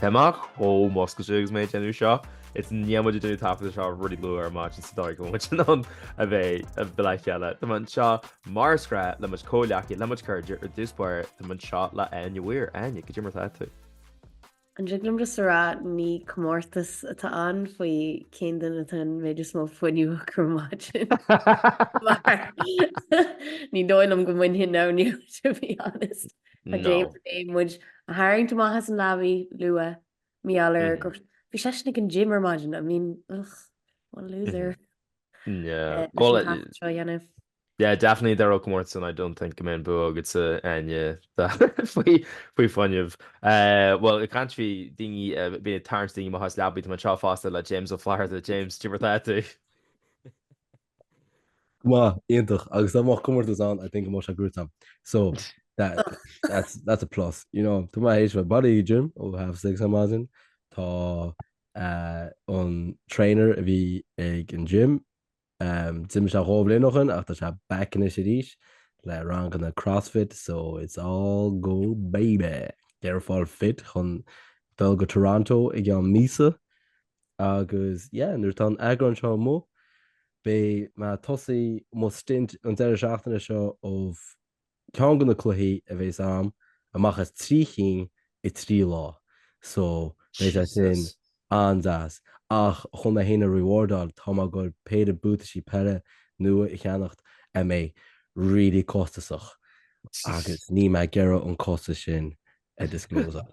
Tá mé chomh múscailte agus mé ag déanamh seo, is níl muid ag déanamh taifead ar na rudaí luath ar maidin sa dóigh go bhfuil muid in ann a bheith uilig le chéile. Tá mé anseo mar is gnách le mo chuid comhghleacaithe le mo chuid cairde ar dtús báire, tá mé anseo le Áine Mhór. Áine, caidé mar atá tú? An dtig liom just a rá ní comórtas atá ann faoi cén duine atá an méid is mó fuinniú acu ar maidin mar ní dóigh liom go mbainfinn é inniu to be honest. Tá No. James ag éirí muid a tharraingt amach as an leabaidh luath, mar gheall ar Mhm. gur bhí seisean ag an gym ar maidin, I mean, ugh, what a loser. No. Eh, leis Well, an it- taifead seo a dhéanamh. yeah, definitely there, ó, comórtas ann, I don't think go mbeidh an bua agatsa, Áine, da- faoi faoi fuinneamh. Eh, bhuel, ag caint faoi daoine, eh, bíonn ag tarraingt daoine amach as leabaidh, tá mé anseo fosta le James Ó Flatharta, James, caidé mar atá tú? Go maith, iontach, agus dá mbeadh comórtas ann I think I might have grutam, so that, that's, that's a plus, you know, tá mé th'éis bheith bailithe ag an gym ó half six ar maidin, tá eh, an trainer a bhí ag an gym, em, d'imigh sé dhá bhliain ó shoin ach tá sé back anois arís le ranganna crossfit, so it's all go baby! Ag fáil fit chun dul go Toronto i gceann míosa, Agus yeah, nuair atá an eagrán seo amuigh, beidh mé ag tosú mo stint an deireadh seachtaine seo of ceann de na cluichí a bheas ann, amach as trí chinn i trí lá. So, beidh sé sin an-deas. Ach chun mé féin a rewardáil, tá mé ag gabhail péire buataisí peile nua a cheannacht a mbeidh really costasach, agus níl mé ag iarraidh an costas sin a discloseáil.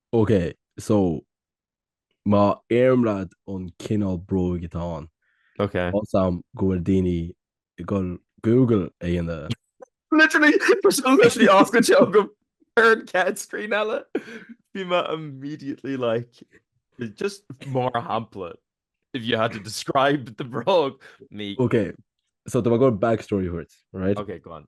OK, so, má iarraim ort an cineál bróig atá ann, OK. ionas go bhfuil daoine ag dul Google a dhéanamh. Literally, tá sé literally oscailte agam ar an chéad screen eile. Beidh mé immediately like, just mar shampla, if you had to describe the bróg, ní. OK, so tá mé ag gabháil backstory a thabhairt, right? OK, go on.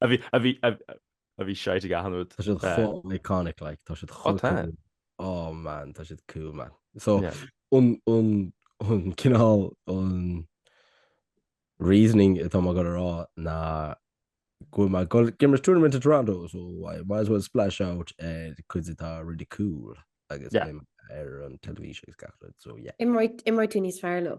a bhí a bhí a bhí seit ag achan rud. Tá siad chomh iconic like tá siad chomh cool oh man tá siad cool man so an an an cineál an reasoning atá mé ag gabháil a rá ná go bhfuil mé ag gabháil ag imirt tournament in Toronto so I might as well splash out ar cuid atá really cool agus ar an television agus gach rud so yeah. Imreoidh tú níos fearr leo.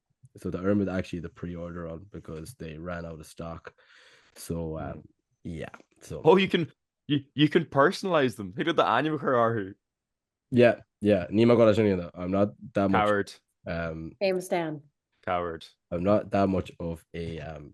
so the Irmid actually the pre-order on because they ran out of stock so um, mm. yeah so oh you can you, you can personalize them who did the anime who yeah yeah Nima got any of that I'm not that much coward um James Dan coward I'm not that much of a um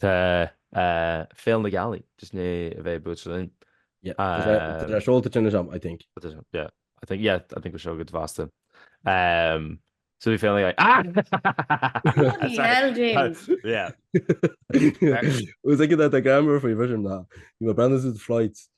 Tá Féile na Gealaí just inné a bheith buaite linn. Yeah, tá sé seolta tinn anseo, I think. Yeah, I think, yeah, I think we're so good vasta. Um, so we feel like, ah! Bloody hell, James! yeah. It was like that, the grammar for your vision now. You were branded as the flights,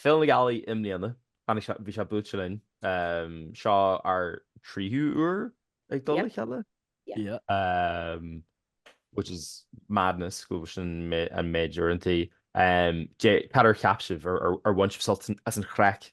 Féile na Gealaí i mbliana. Tháinig sé, bhí sé buailte linn. Seo ár dtríú uair ag dul le chéile. Which is madness go bhfuil sin an méid uaireantaí. Cad ar cheap sibh? Ar bhain sibh sult as an chraic?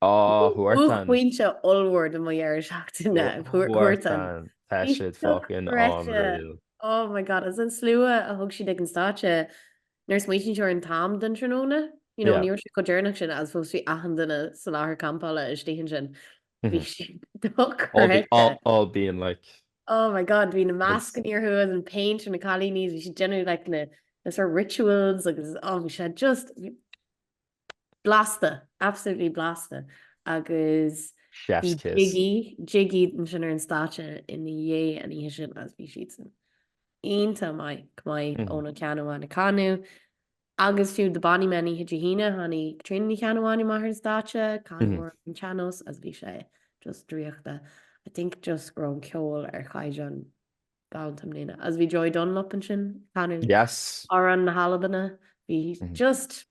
Oh, Huartan. Buaicphointe ollmhór de mo dheireadh seachtaine, Huartan. Tá siad fucking unreal. Oh my god, agus an slua a thug siad ag an stáitse nuair a smaoitíonn tú ar an t-am den tráthnóna, you know, ní raibh sé chomh deireanach sin agus fós bhí achan duine sa láthair campála istigh ansin. Bhí sé dochreidte. All being like. Oh my god, bhí na mascannaí orthu agus an péint ar na cailíní, bhí siad ag déanamh like na sort of rituals agus oh bhí sé just, Blasta! Absolutely blasta! Agus bhí Chef's kiss. Jiggy, Jiggy ansin ar an stáitse ina dhiaidh an oíche sin agus bhí siadsan iontach maith chomh maith Mhm. Eoghan Ó Ceannabháin ag canadh agus fiú The Bonny Men oíche Dé hAoine tháinig Caitríona Ní Cheannabháin amach ar an stáitse, canadh Mhm. ar an tsean-nós agus bhí sé just draíochta. I think just go raibh an ceol ar chaighdeán galanta i mbliana. Agus bhí Joy Dunlop ansin ag canadh Yes. Amhráin na hAlbana. Bhí Mhm. just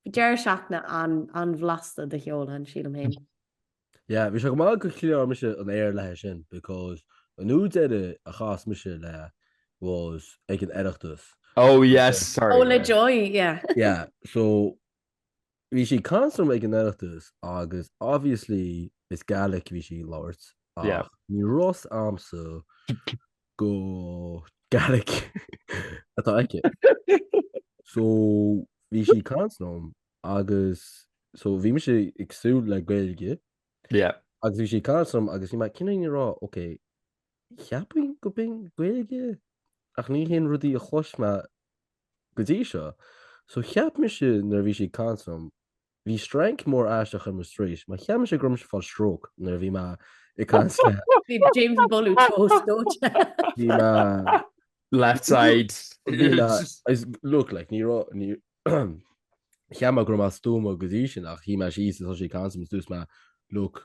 Deireadh seachtaine an-bhlasta de cheol ann, sílim féin. Yeah, bhí sé go maith gur chlear mise an aer léithi sin because an uair dheiridh a chas mise léi was ag an Oireachtas. Oh yes, sorry. Oh le Joy, yeah. Yeah, so bhí sí ag caint liom ag an Oireachtas agus obviously is Gaelic a bhí sí ag labhairt ach ní raibh a fhios a'msa go Gaelic atá aici. So bhí sí ag caint liom agus so bhí mise ag súil le Gaeilge Yeah. agus bhí sí ag caint liom agus bhí mé cineál ag rá ok ceapaim go b'in Gaeilge ach ní haon rud í a chlois mé go dtí seo. So cheap mise nuair a bhí sí ag caint liom Bhí strainc mór aisteach ar mo straois. Mar cheap mise go raibh mise ag fáil stróc nuair a bhí mé ag caint léi. Bhí James ag bolú tósta dóite. Bhí mé. Left side. Bhí mé, is, look, like, ní raibh, ní, cheap mé go raibh mé stuama go dtí sin ach shuigh mé síos is thosaigh sí ag caint liom is dúirt mé, look,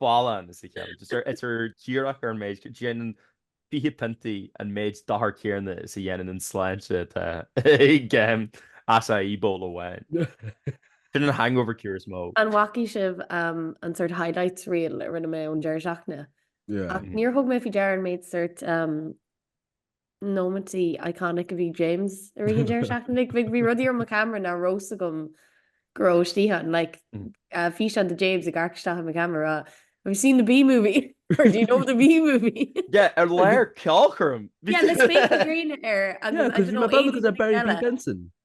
Balance a chéile. Just ar itear díreach ar an méid, déanann fiche piontaí an méid dochair céanna is a dhéanann an sláinte atá ag aon açaí bowl amháin. Sin an hangover cure is mó. An bhfacaidh sibh an sort highlights reel a rinne mé ón deireadh seachtaine? Ach níor thug mé faoi deara an méid sort nóiméintí iconic a bhí ag James i rith an deireadh seachtaine like bhí bhí rudaí ar mo camera nach raibh a fhios agam go raibh istigh ann like mm. uh, físeán de James ag amharc isteach i mo camera ag rá Have you seen the B movie? Or do you know the B movie? yeah, i lár ceolchoirm. yeah, le spéaclaí gréine air agus I don't know, Benson.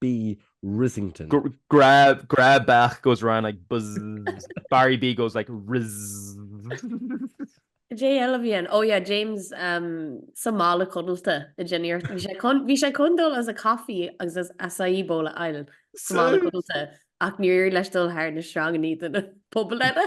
B. Rizzington. Gra, gra, beach goes around like buzz, Barry B goes like rizzzzzzz. Caidé eile a bhí ann, oh yeah, James um sa mála codlata a dinnéar, bhí sé chun, bhí sé chun dul as a coffee agus as acai bowl a fháil sa mála codlata ach níor éirigh leis dul thar na sreangannaí de na pubaill eile.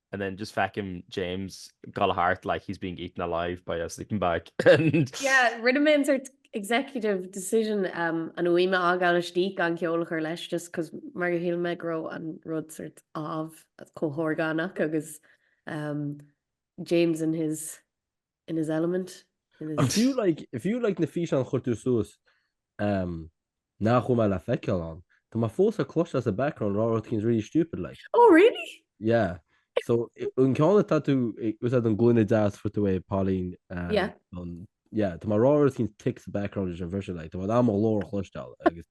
and then just feicim James ag dul thart like he's being eaten alive by a sleeping bag and. Yeah, rinne mé an sort executive decision um an fhuaim a fhágáil istigh gan ceol a chur leis just cos mar go shíl mé go raibh an rud sort of chomh horgánach agus um James in his in his element, in his. If you like, if you like na físeáin chuir tú suas ehm nach bhfuil mé le feiceáil ann, tá mé fós le cloisteáil sa background ag rá rud inteacht really stupid like. Oh really? Yeah, so an ceann atá tú ag úsáid an gloine deas fuair tú uaidh Pauline ehm. Yeah. An, yeah, tá mé ag rá rud inteacht sa background leis an bhriseadh like, tá mé mo ghlór a chloisteáil agus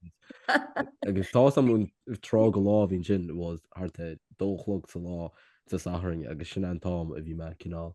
agus tá's am an tráth de lá a bhí ansin it was thart ar a dó a chlog sa lá sa Satharn agus sin an t-am a bhí mé cineál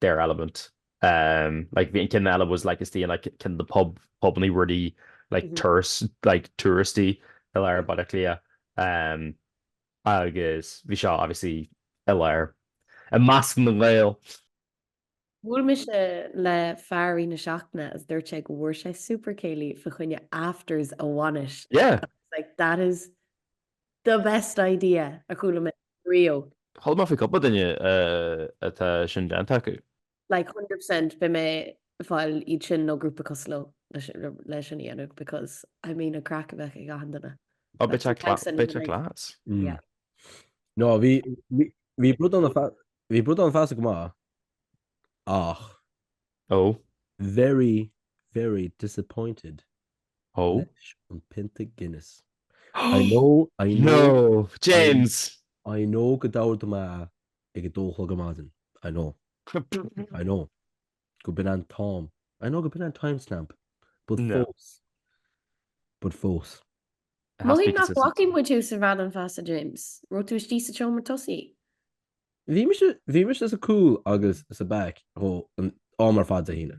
their element like bhí an ceann eile was like istigh in like ceann de na pub pubanna really like tourists like touristy i lár Baile Átha Cliath agus bhí seo obviously i lár i measc na nGael. Bhuail mise le fear i rith na seachtaine agus dúirt sé go bhfuair sé Super Céilí fa choinne afters a bhainis. Yeah. I was like that is The best idea a chuala mé ariamh. Chuala mé faoi cúpla duine atá sin déanta acu. Like 100% beidh mé ag fáil iad sin nó grúpa cosúil leo le sin a dhéanamh because I mean an craic a bheadh ag achan duine. Ó beidh sé class, beidh sé class. Yeah. No, bhí bhí Bradán Feasa, bhí Bradán Feasa go maith ach. Ó. Very, very disappointed. Ó? leis an pionta Guinness. I know, I know. No! James! I know go d'ordaigh mé é ag a dó a chlog ar maidin. I know. I know gurb in an t-am. I know gurb in an time stamp. But No. fós. But fós. It has to be consistent. Mothaím nach bhfacaigh muid thú sa Bhradán Feasa, James. Raibh tú istigh sa tseomra tosaigh? Bhí mise, bhí mise sa cúl agus sa back ó an am ar fad Dé hAoine.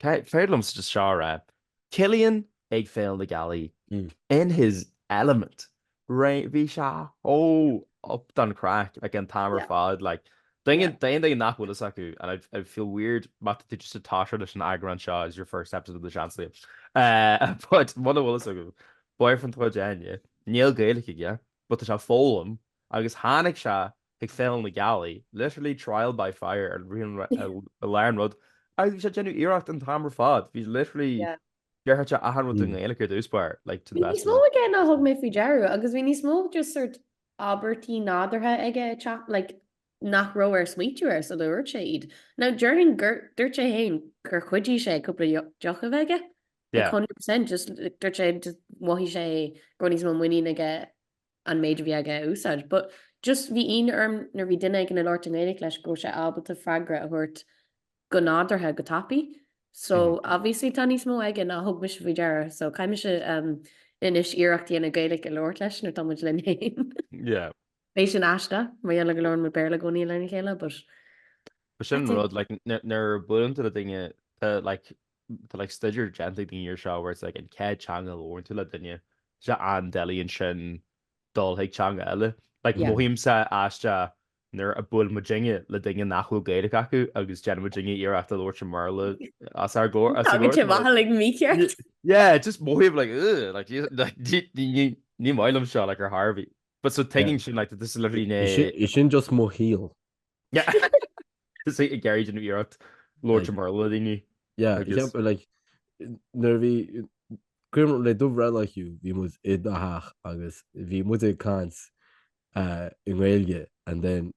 Féidir liom just seo a rá. Cillian ag Féile na Gealaí, in his element. Bhí sé chomh up don chraic an t-am ar fad. D'aon duine nach bhfuil fhios acu, and I'd feel weird má tá tú just ag tosú leis an eagrán seo as your first episode of the Seansálaithe, but muna bhfuil fhios agat, boyfriend Ghráinne, níl Gaeilge aige but tá sé ag foghlaim agus tháinig sé chuig Féile na Gealaí, literally trial by fire ar a lár an rud, agus bhí sé ag déanamh iarracht an t-am ar fad, bhí literally déarfadh sé achan rud i nGaeilge ar dtús b'fhearr, like to the best of my. Bhí níos mó aige ná thug mé faoi deara, agus bhí níos mó just sort abairtí nádúrtha aige ag teacht, like nach raibh air smaoitiú air sula dúirt sé iad. Now déarfainn gur dúirt sé féin gur chuidigh sé cúpla deoch a bheith aige, like hundred percent, just dúirt sé, just mhothaigh sé go raibh níos mó muinín aige an méid a bhí aige a úsáid, but just bhí ionadh orm nuair a bhí duine éigin ag labhairt i nGaeilge leis go raibh sé ábalta freagra a thabhairt go nádúrtha go tapaidh. So obviously tá níos mó aige ná a thug mise faoi deara, so caithfidh mise anois iarracht a dhéanamh Gaeilge a labhairt leis nuair atá muid linn fhéin. Yeah. Beidh sin aisteach mar gheall ar go labhrann muid Béarla i gcónaí lena chéile but. Sin an rud, like nuair a buaileann tú le duine, tá like Tá like staidéar déanta ag daoine ar seo where it's like an céad teanga a labhrann tú le duine, tá sé an-doiligh ansin dul chuig teanga eile. Like Yeah. mothaímse aisteach nuair a buail muidinne le duine nach bhfuil Gaeilge acu agus déanann muidinne iarracht a labhairt i mBéarla os ár gcomhair- os a Tágann sé gcomhair. mhaith like mícheart. Yeah, just mothaím like ugh, like ní- like, ní- ní- ní- ní maith liom seo like ar chor ar bith. But so Yeah. tuigim sin like that this is literally Is é sin- is sin just mo shaol. Is é ag iarraidh déanamh iarracht labhairt i mBéarla le daoine. Yeah, I guess. Like, nuair bhí, cuimhin leat do bhreithlá Hugh, bhí muid i do theach agus bhí muid ag caint uh, i nGaeilge and then,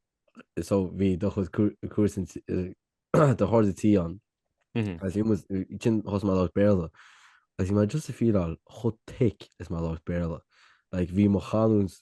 so bhí do chuid cairde uh, do chairde tí ann. Mm -hmm. Agus bhí muid, ansin thosaigh mé ag labhairt Béarla, agus bhí mé just ag feeláil chomh thick is mé ag labhairt Béarla. Like, bhí mo chanúint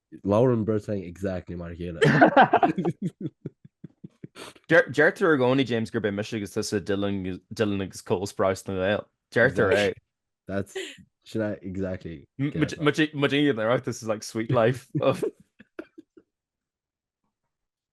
Labhrann an bheirt againn exactly mar a chéile. Deirtear i gcónaí, James, gurb é mise agus tusa Dylan, Dylan agus Cole Sprouse na nGael. Deirtear é. That's, sin é exactly. Muid ag an Oireachtas is like Suite Life.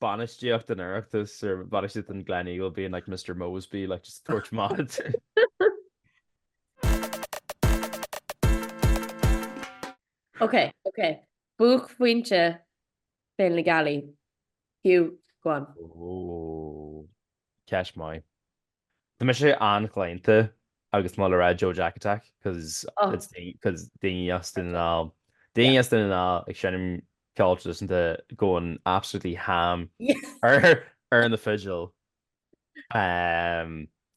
bainistíocht an Oireachtais or bainistíocht an Gleneagle being like Mr Moseby like just tabhairt amach. Ok, ok. Buaicphointe Féile na Gealaí. Hugh, go on. Oh, ceist mhaith. Tá mise an-chlaonta agus mé ag dul a rá Joe Jack Attack cos it's cos daoine as Dún na nGall daoine as Dún na nGall ag seinm ceol traidisiúnta going absolutely ham ar na fidil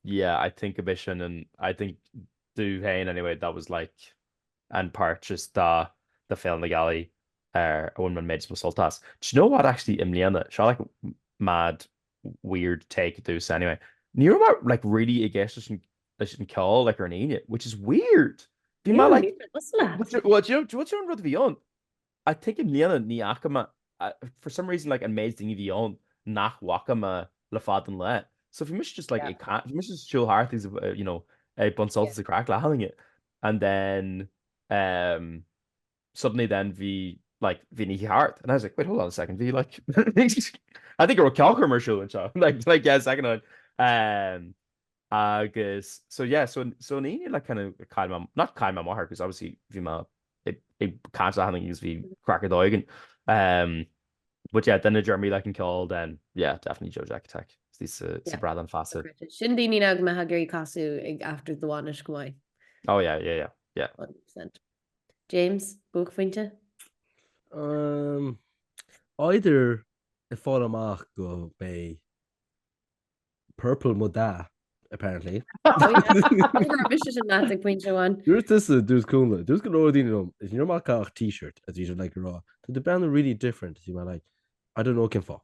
yeah I think gurb é sin an I think domh féin anyway that was like an part just de de Féile na Gealaí a bhain mé an méid is mó sult as. Do you know what actually i mbliana seo like mad weird take ar dtús anyway. Ní raibh mé like really ag éisteacht leis an leis an ceol like ar an Aoine which is weird. Bhí mé like Níl a fhios leat. But you well do you know do you know do you know an rud a bhí ann? I think i mbliana ní fhaca mé I for some reason like an méid daoine a bhí ann nach bhfaca mé le fada an lae. So bhí mise just like ag Yeah. ca- bhí mise just ag siúl thart agus ag you know ag baint Yeah. sult as an craic le daoine and then eh suddenly then bhí like bhí ní heart and I was like wait hold on a second bhí like I think gur ceachar mar siúil anseo like like yeah second on um agus so yeah so so ní le kind of kind of not kind of mar because obviously bhí ma i can hanna gus bhí crackar dóigen um but yeah then a Jeremy like can call then yeah definitely Joe Jack attack sa brad an fasa sin daoine ag me ha gurí casú ag after dohaine goáid oh yeah yeah yeah yeah James, buaicphointe? Amm. Either ag fáil amach gurb é purple mo dath, apparently. Mise sin ná ag pointe amháin. Dúirt tusa dúirt Cúnla, dúirt go leor daoine liom, is ní raibh orm ach t-shirt is bhí siad uilig ag rá, Tá tú ag breathnú really different, is bhí mé like, I don't know cén fáth.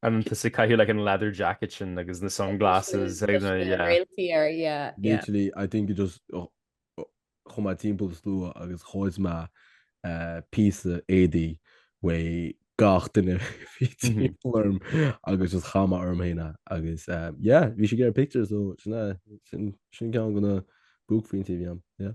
And tusa ag caitheamh like an leather jacket sin agus na sunglasses ag na yeah. Réaltaí air yeah yeah. Literally I think it just chuaigh mé timpeall an slua agus ghoid mé píosa éadaí uaidh gach duine a bhí timpeall orm agus just chaith mé orm féin é agus yeah bhí siad ag iarraidh pictiúr so sin ceann de na buaicphointí a bhí ann yeah.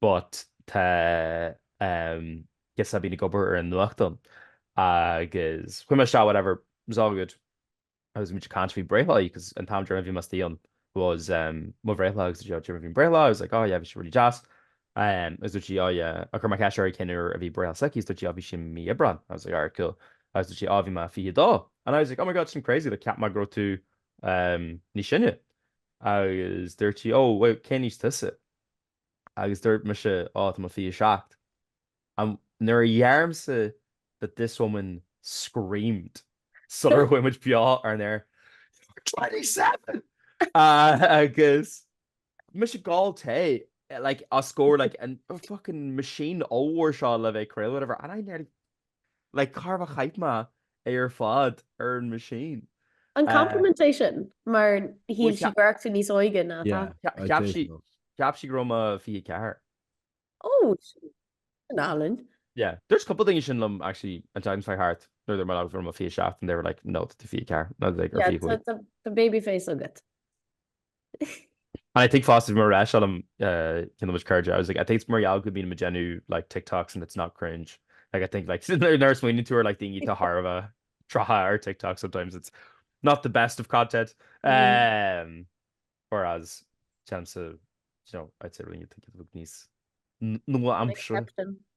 but tá ehm guess bíonn ag obair ar an nuachtán agus chuaigh mé isteach whatever it was all good agus bhí muid ag caint faoi breithlá because an t-am deireanach a bhí mé sa tíón was ehm mo bhreithlá agus dúirt sí bhí an breithlá I was like oh yeah bhí sé really deas ehm agus dúirt sí oh yeah agus chuir mé ceist uirthi cén uair a bhí breithlá s'aici agus dúirt sí oh bhí sé mí Aibreán I was like alright cool agus dúirt sí oh bhí mé 22 and I was like oh my god sin crazy like cheap mé go raibh tú ehm níos sine agus dúirt sí oh wow cén aois tusa Agus dúirt mise, Ó, tá mé 27 Am nuair a dheirimse that this woman screamed sular chuaigh muid beo ar an aer, You're twenty seven! Agus mise ag ól tae like os comhair like an fucking machine ollmhór seo le bheith ag craoladh whatever and I nearly Like, chóir a bheith chaith mé é ar fad ar an machine. An compliment é sin? Mar shíl sí go raibh tú níos óige ná atá. Cheap sí, cheap sí go raibh mé 24. Ó, álainn. Yeah, dúirt cúpla duine sin liom actually an tseachtain seo thart nuair a bhí mé ag rá go raibh mé 27 and they were like no tá tú 24 nó like 25. Tá baby face agat. And I think fosta bhí mé ag rá seo le ceann de mo chairde, I was like, I think it's mar gheall go mbíonn muid ag déanamh like TikToks and it's not cringe. Like I think like nuair a smaoiníonn tú ar like daoine atá chóir a bheith 30 ar TikTok sometimes it's not the best of content. Um, whereas téann sa, you know, I'd say really I think tá muid níos nua-aimseartha.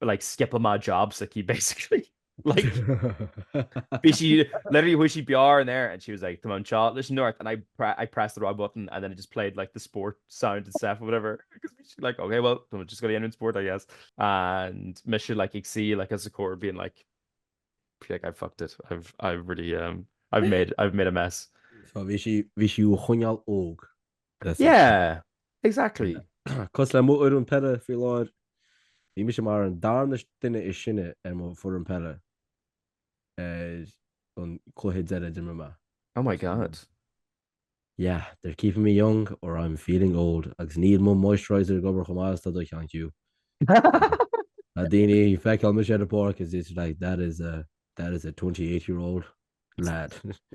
like skip a mad job so he basically like but she literally who she BR in there and she was like come on child listen north and I pre I pressed the wrong button and then it just played like the sport sound and stuff or whatever like okay well I'm just gonna end in sport I guess and mission like you see like as a core being like Like, I've fucked it, I've, I've really, um, I've made, I've made a mess. So bhí sí, bhí sí á choinneáil óg, that's it. Yeah, exactly. Cosúil le mo fhoireann peile faoi láthair, bhí mise mar an darna duine is sine ar mo foireann peile ar an cluiche deiridh a d'imir mé. Oh my God. Yeah, they're keeping me young or I'm feeling old agus níl mo moisturiser ag obair chomh maith is tá do cheann Hugh. Tá daoine ag feiceáil mise ar an bpáirc is it's like that is a that is a 28 year old lad.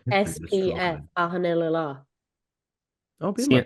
SPF achan uile lá. Oh, bíonn mé.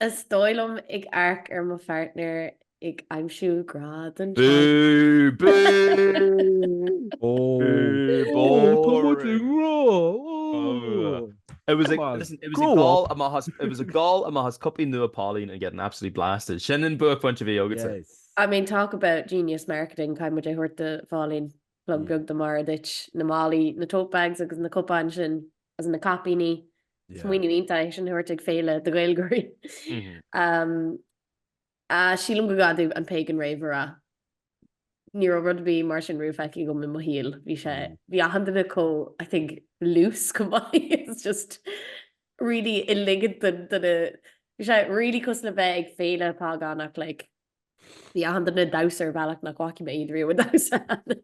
Is dóigh liom ag amharc ar mo phairtnéir ag aimsiú grá don teanga. Bú! Bú! Bú! Tá muid i ngrá! It was a, listen, it was ag ól amach as, it was ag ól amach as cupaí nua Póilín and getting absolutely blasted. Sin an buaicphointe a bhí agatsa. I mean, talk about genius marketing, caithfidh muid é thabhairt do Phóilín. Plug beag do Mora Duit. Na málaí, na tote bags agus na cupáin sin is na caipíní. Smaoineamh iontach é sin a thabhairt ag féile do Ghaeilgeoirí. Sílim go gcaithfidh tú an Pagan Rave a rá. Ní raibh rud ar bith mar sin riamh feicthe agam i mo shaol. Bhí sé, bhí achan duine chomh, I think, loose chomh maith. It's just really ag ligint don duine, bhí sé really cosúil le bheith ag féile págánach like. Bhí achan duine ag damhsa ar bhealach nach bhfaca mé iad riamh ag damhsa do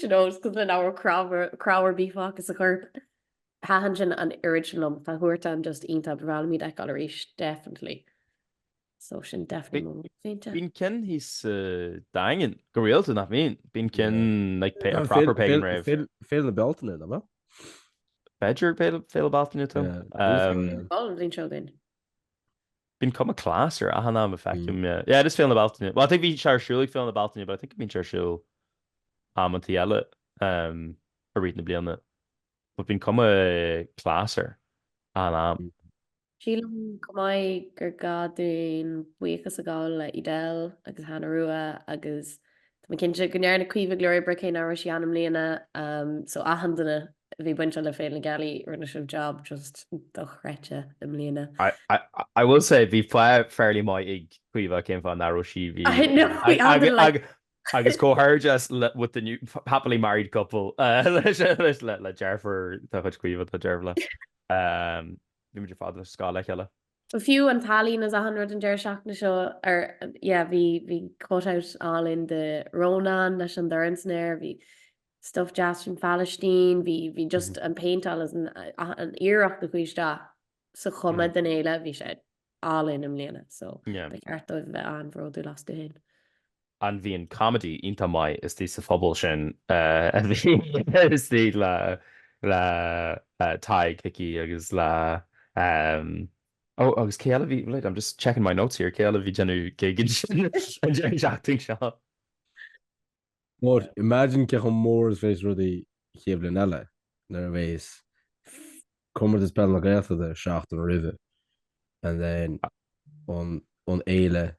you know is cosúil le nach raibh cnámh ar bith fágtha sa chorp. Thaitin sin an oiread sin liom. Tá Huartan just iontach. Ba bhreá liom iad a fheiceáil arís definitely. So sin definitely mo bhuaicphointe. Bíonn ceann thíos sa Daingean go rialta, nach mbíonn? Bíonn ceann like a proper pagan rave. Féile na Bealtaine, no? B'fhéidir Féile na Bealtaine, Tom. Bhí an bhliain seo againn. Bíonn cuma class air achan am a fheicim é. Yeah, it is Féile na Bealtaine. Well, I think bhí sé ar siúl ag Féile na Bealtaine but I think go mbíonn sé ar siúl amantaí eile um i rith na bliana. But bíonn cuma class air achan am. Sílim chomh maith gur gá dúinn buíochas a ghabháil le Edel agus Hannah Rua agus tá mé cinnte go ndearna Caoimhe go leor oibre cé nach raibh sí ann i mbliana um so achan duine Bhí bainte le Féile na Gealaí, rinne sibh jab just dochreidte i mbliana. I will say, bhí fáth fairly maith ag Caoimhe cén fáth nach raibh sí, bhí, I know, we all didn't like. agus comhghairdeas with the new happily married couple leis le le deirfiúr de chuid Chaoimhe, tá deirfiúr le, bhí muid ar fad ar scoil le chéile. Fiú an t-ealaín is achan rud an deireadh seachtaine seo, ar, yeah, bhí, bhí cut out álainn de Rónán leis an dorn san aer, bhí, stuff deas fán Phalaistín, bhí, bhí just an péinteáil is an, an iarracht a chuaigh isteach sa chuma den fhéile, bhí sé álainn i mbliana, so ba cheart dóibh a bheith an-bhródúil astu féin. And bhí an comedy iontach maith istigh sa phuball sin a bhí istigh le, le Tadhg Hickey agus le, oh, agus cé eile a bhí, wait, I'm just checking my notes here, cé eile a bhí ag déanamh gig ansin an deireadh seachtaine seo? But imagine cé chomh mór is bheas rudaí an chéad bhliain eile nuair a bheas Comórtas Peil na Gaeltachta seachtain roimhe and then an an fhéile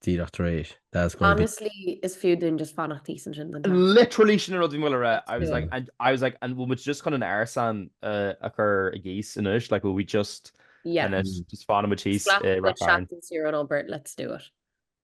díreach tar éis. That's gonna be Honestly, is fiú dúinn just fanacht thíos ansin don tseachtain. Literally sin an rud a bhí mé le rá. I was Yeah. like, and I was like, and bhfuil muid just chun an árasán uh, a chur i gcíos anois, like, will we just, Yeah. and then just fanfaidh muid thíos Slap i the Ráth Chairn. Shacks and Cyrano Bert, let's do it.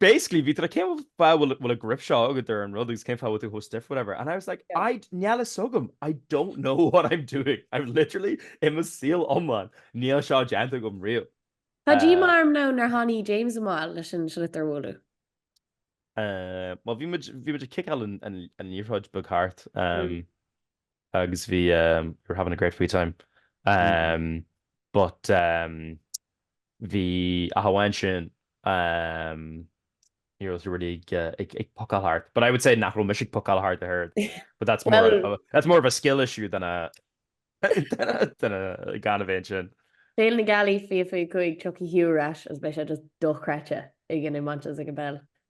Basically bhí tú cén fáth a bhfuil an grip seo agad ar an rud agus cén fáth a bhfuil tú chomh stiff whatever and I was like I níl a fhios agam I don't know what I'm doing I'm literally i mo shaol iomlán níl seo déanta agam riamh. Tá díomá orm nó nár tháinig James amach leis an sliotar a bhualadh. Well bhí muid ag ciceáil an liathróid beag thart. agus bhí you were having a great free time umm but umm bhí ach amháin sin umm ní raibh tú really ag ag pocáil thart but I would say nach raibh mise ag pocáil thart though but that's more of a that's more of a skill issue than a than a gan a bheith ansin. Féile na Gealaí 2025 tiocfaidh tú ar ais agus beidh sé just dochreidte ag an iomáint agus ag an bpeil.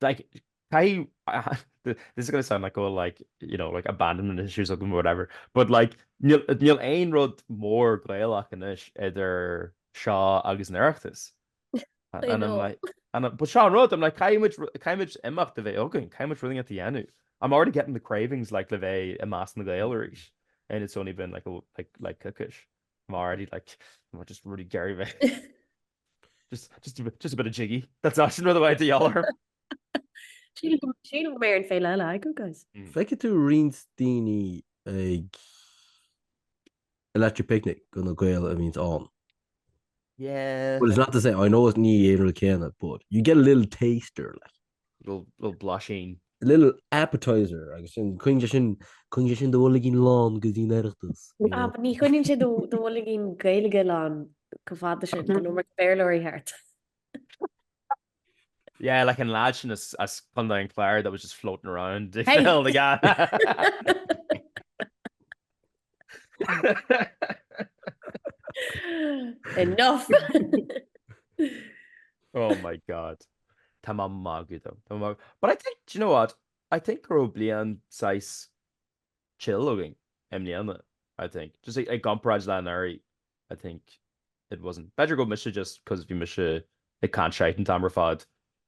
Like, caithfidh, this is going to sound like, oh, like, you know, like abandonment issues agam or whatever, but like, níl, níl aon rud mór Gaelach anois idir seo agus an Oireachtas. I And I'm know. like, and I'm, but seo an rud, I'm like, caithfidh muid, ru- caithfidh muid imeacht a bheith againn, caithfidh muid rud éicint a dhéanamh. I'm already getting the cravings, like, le bheith i measc na Gael arís. And it's only been like, a, like, like, coicís. I'm already like, I'm just really ag iarraidh a bheith. Just, just, just a bit of jiggy. That's not another way to yell her. Sílim go- sílim go mbeidh ar an féile eile agam, guys. Feicfidh tú roinnt daoine ag Electric Picnic go na Gaeil a bhíonns ann. Yeah. Well, it's not to say, I know it's ní aon rud céanna, but you get a little taster, like. little blaisín. a little appetizer agus sin coinníonn sé sin coinníonn sé sin do bhoilgín lán go dtí'n Oireachtas, you know. Ah, ní choinníonn sé do do bhoilgín Gaeilge lán go fada sin, an iomarca Béarlóirí thart. Yeah, like an lad sin as as Contae an Chláir that was just floating around. Hey! Enough! oh my god. Tá mé ag magadh though. But I think, do you know what? I think go raibh bliain sách chill againn i mbliana, I think. Just i gcomparáid le anuraidh, I think it wasn't. B'fhéidir go mise just cos bhí mise ag caint shite an t-am ar fad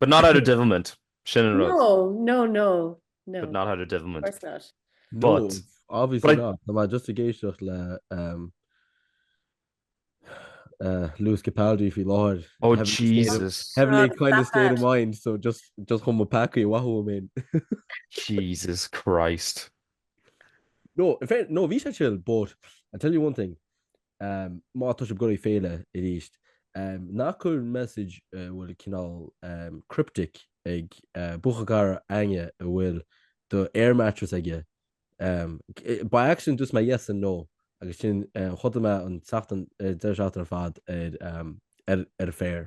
But not out of devilment, sin an rud. No, no, no, no. But not out of devilment. Of course not. No, But, obviously but I... not. Tá mé just ag éisteacht le um uh Lewis Capaldi faoi láthair. Oh Jesus. Heavenly kind of state of mind, so just just chum mo peacaí amhaith uaim fhéin. Jesus Christ. No, in fair, no, bhí sé chill, but I tell you one thing, má tá sibh ag dul go dtí féile arís, ná cuir message a bhfuil cineál cryptic ag buachaill cara éinne a bhfuil do air mattress aige By accident dúirt mé yes and no agus sin, chodail mé an tseachtain, an deireadh seachtaine ar fad ar, ar, ar an féar.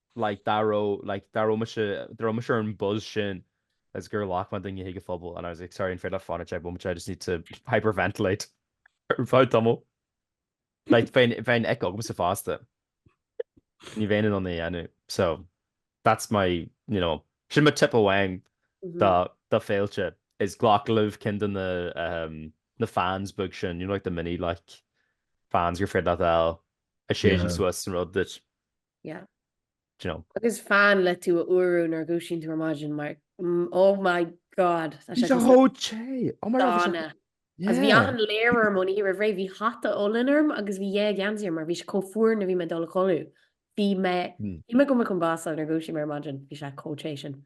like dá raibh like dá raibh mise dá raibh mise ar an buzz sin is gur ghlac mé daoine chuig an phuball and I was like sorry an féidir leat fanacht amuigh I just need to hyperventilate ar feadh tamaill like bheinn bheadh an ick agamsa fosta ní bheinn in ann é a dhéanamh so that's my you know sin mo tip amháin do do féilte is glac libh cinn de na um na fans beag sin you know like the mini like fans gur féidir leat a a séideann suas an rud duit. Yeah. Do you know? Agus fan le tú a fhuarú nuair a dhúisíonn tú ar maidin mar oh my god. Tá Bhí sé sé go chomh te. Oh my god. bhí sé- dona. Agus bhí Yeah. achan layer orm ón oíche roimh ré, bhí hata olainn orm agus bhí dhá gheansaí orm mar bhí sé chomh fuar nuair bhí mé ag dul a chodladh. Bhí mé, Mm. bhí mé go raibh mé chun bású nuair a dhúisigh mé ar maidin, bhí sé chomh te sin.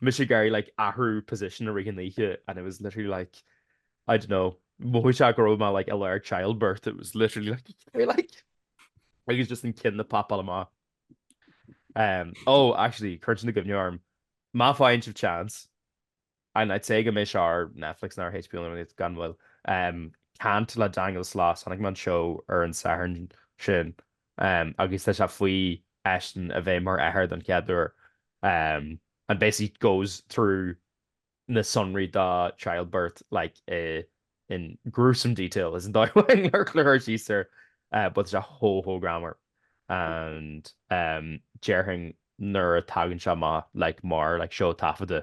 Mise ag iarraidh like athrú position i rith an oíche and it was literally like I don't know mhothaigh sé go raibh mé like i lár childbirth it was literally like you know like agus just an ceann ag papáil amach. Um oh actually cuireann sin i gcuimhne orm má fhaigheann sibh chance and I'd say go mbeidh sé ar Netflix nó ar HBO nó rud gan mhoill um Can't le Daniel Sloss chonaic mé an seó ar an Satharn sin agus tá sé faoi eisean a bheith mar athair don chéad uair and basically goes through na sonraí dá childbirth like in gruesome detail is an dóigh amháin le cur síos air but tá sé chomh chomh greannmhar and déarfainn nuair a tagann sé amach like mar like seó taifeadta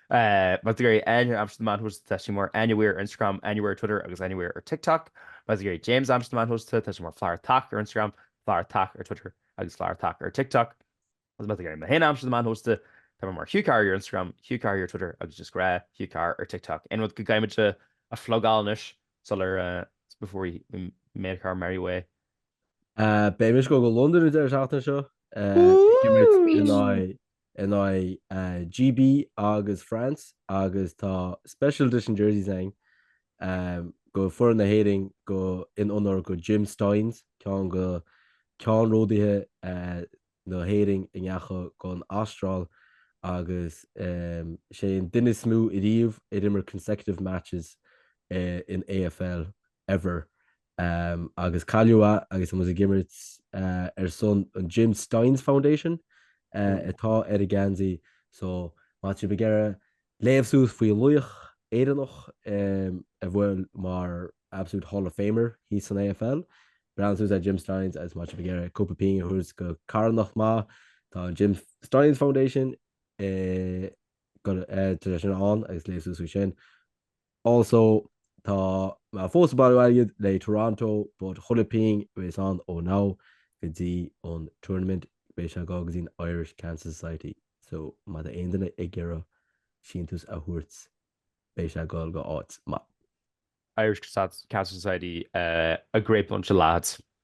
Má tá tú ag iarraidh Áine a aimsiú ar na meáin shóisialta tá sí mar Anya Weir ar Instagram, Anya Weir ar Twitter agus Anya Weir ar TikTok. Má tá tú ag iarraidh James a aimsiú ar na meáin shóisialta tá sé mar Flaithbheartach ar Instagram, Flaithbheartach ar Twitter agus Flaithbheartach ar TikTok. Agus má tá tú ag iarraidh mé féin a aimsiú ar na meáin shóisialta tá mé mar Hugh Carr Here ar Instagram, Hugh Carr Here ar Twitter agus just gnáth Hugh Carr ar TikTok. Aon rud go gcaithfidh muid a phlugáil anois sular before we make our merry way. Beidh mise ag dul go Londain an deireadh seachtaine seo. Beidh muid in aghaidh in aghaidh GB agus France agus tá Special Edition Jerseys ann do foireann na hÉireann do in onóir do Jim Stynes, ceann de ceannródaithe na hÉireann a ndeachaigh don Astráil agus is é an duine is mó ariamh a d'imir consecutive matches in AFL. ever Um agus cailleadh é agus mise ag imirt eh ar son an Jim Stynes Foundation eh atá ar an ngeansaí so má tá tú ag iarraidh léamh suas faoi laoch Éireannach eh a bhfuil mar absolute Hall of Famer thíos san AFL breathnaigh suas ar Jim Stynes agus má tá tú ag iarraidh cúpla pingin a thabhairt do carthanacht maith tá an Jim Stynes Foundation eh go eh, tá sé sin ann agus léamh suas faoi sin Also, Tá mé fós ag bailiú airgid le Toronto but chuile pingin a bheas ann ó now go dtí an tournament beidh sé ag gabháil go dtí an Irish Cancer Society so má tá aon duine ag iarraidh síntiús a thabhairt beidh sé ag gabháil go háit maith. Irish Cancer Society a great bunch of lads.